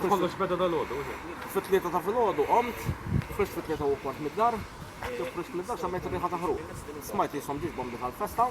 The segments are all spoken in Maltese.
Kollox beda dal-ħodu, fit-tlieta ta' fil-ħodu, omt, frisk fit-tlieta u kwart mid-dar, frisk mid-dar, xammejt riħa ta' ħruq. Smajt li jisom ġiġbom diħal festa,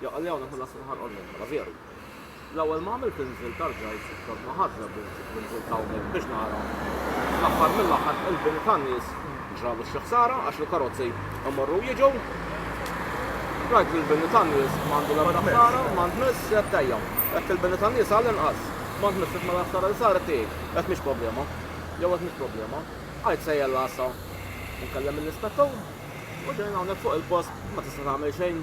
Jaqal li hawn ikun ħadd minn ħarqol minn ħala veru. L-ewwel ma għamilt inżilt arġajt kont ma ħadt żebbu nsibt l-inżilt hawnhekk biex nara. Fl-aħħar mill-aħħar qilbin tan-nies ġralu xi ħsara għax il-karozzi imorru jiġu. Rajt li l-bini tan-nies m'għandu l-ebda ħsara, m'għand miss qed tejja. Qed il-bini tan-nies għall-inqas. M'għand miss ma l-ħsara li saret tiegħi. Qed mhix problema. Jew qed mhix problema. Għid sejjer l-għassa. Inkellem lill-ispettur. U ġejna hawnhekk fuq il-post ma tista' tagħmel xejn.